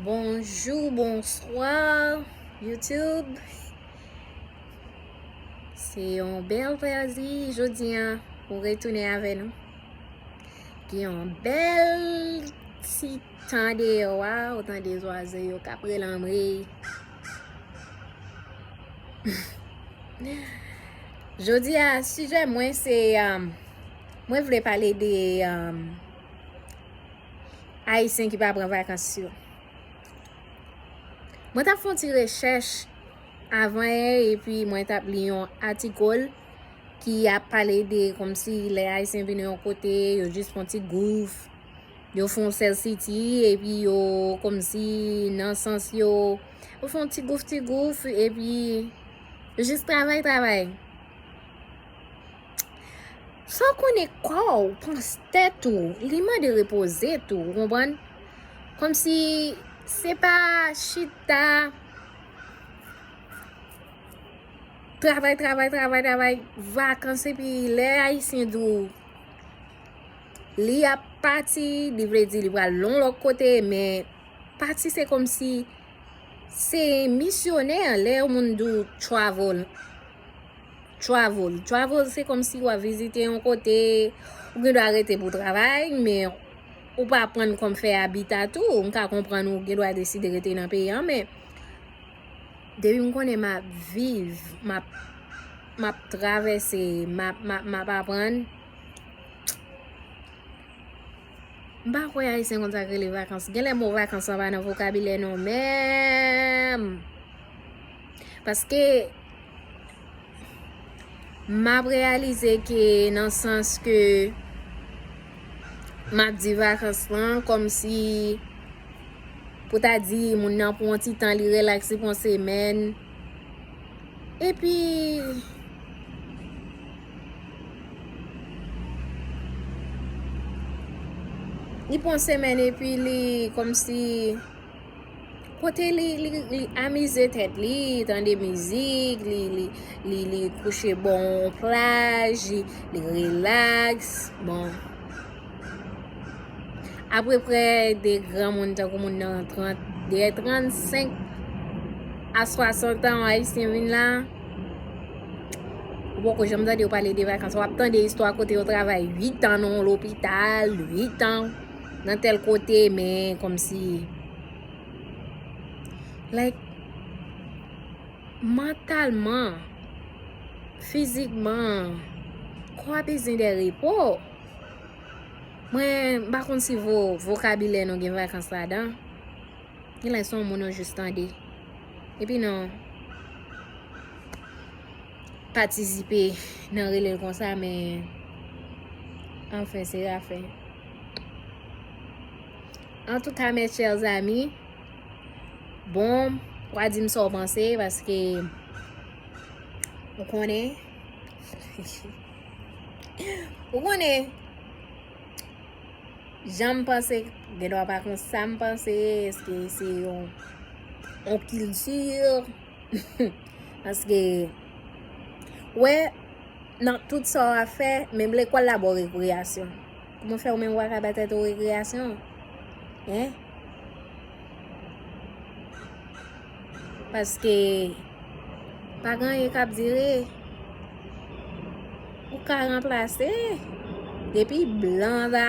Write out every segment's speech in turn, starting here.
Bonjour bonsoir YouTube Se yon bel plazi jodi an pou retounen avè nou Gen yon bel ti tan deyo a ou tan de zwazo yo kap relanmri Jodi a sijè mwen se um, mwen vle pale de um, Ayisyen ki pa pran vakans yo. Mwen tap fon ti rechèch avan yè epi mwen tap li yon atikol ki ap pale de kom si lè ayisyen vini yon kote yo jis fon ti gouf, yo fon sèl siti epi yo kom si nan sans yo yo fon ti gouf ti gouf epi yo jis travay travay. Fòw konnen kòw panc tèt ou li mande repoze tou ou konprann kòmsi se pa chita travay travay travay travay vakans epi lè ayisyen di w li ap pati li vle di li pral yon lòt kote men pati se kòmsi se misyonè lè yon moun di w travel Travel, travel se komsi wap vizite yon kote, ou gen dwa rete pou travay, men ou pa prann kom fè abita tou, m ka konprann ou gen dwa deside rete nan peyi an, men depi m konnen map viv, map travèse, map aprann. M pa kwè ayisyen konn sak rele vakans genlè mo vakans lan pa nan vokabilè nou menm paske map reyalize ke nan sans ke map di vakans lan komsi pou ta di moun nan pou yon ti tan li relax li pou yon semèn. Epi Li pran semen epi li komsi Kote li li amize tet li tande mizik li kouche bon plaj li relax bon Apre prè de gran moun tankou moun nan 30, de 35 a 60 an ayisyen vin la, ou poko janm tande yo pale de vakans, wap tande istwa kote yo travay 8 an nan yon lopital, 8 an nan tel kote, men kom si, like, mantalman, fizikman, kò a bezwen de repo. Mwen pa konn si vokabilè nou gen vakans ladan. Gen lè son moun yo jis tande. Epi nou patisipe nan rele l konsa men anfen se afen. An tou ka mes chers amis, bon, w a di m sa w panse paske ou konnen. Ou konnen, jan m panse, gen dwa pa kon sa m panse, eske se yon kilti, aske, wè, nan tout sa w ap fè, menm lekòl la ba w rekreyasyon. Kouman fè ou menm ou pa ka ba tèt ou rekreyasyon? Hein? Paske pa gen anyen kap dire. Ou ka ranplase. Depi blan la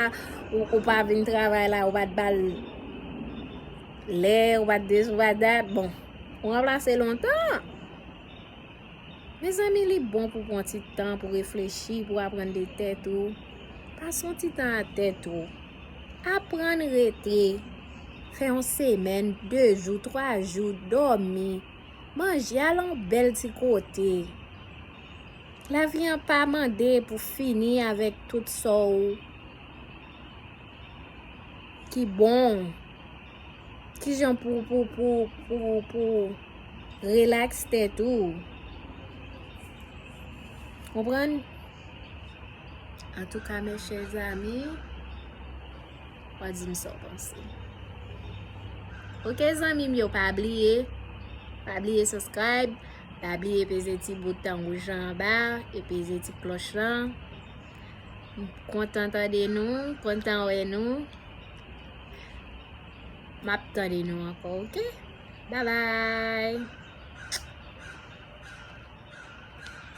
ou pa vin travay la ou pat bal lè ou pat di sou bat dat bon. Ou ranplase lontan. Mezanmi li bon pou pran ti tan pou reflechi, pou aprann de tèt ou. Pase yon ti tan ak tèt ou. Aprann rete, fè yon semèn, 2 jou, 3 jou, dòmi, manje, al yon bèl ti kote. Lavi an pa mande pou fini avèk tout sa w ki bon w. Kijan pou pou pou pou pou relax tèt ou. Konprann? An tou ka mè chè zami, wè di m sa w panse. Ok zami m yo pa bliye, pa bliye subscribe, pa bliye peze ti bouton wouj la anba, e peze ti kloch lan. M kontan tande nou, kontan wè nou. Map tande nou ankò ok. Bye bye.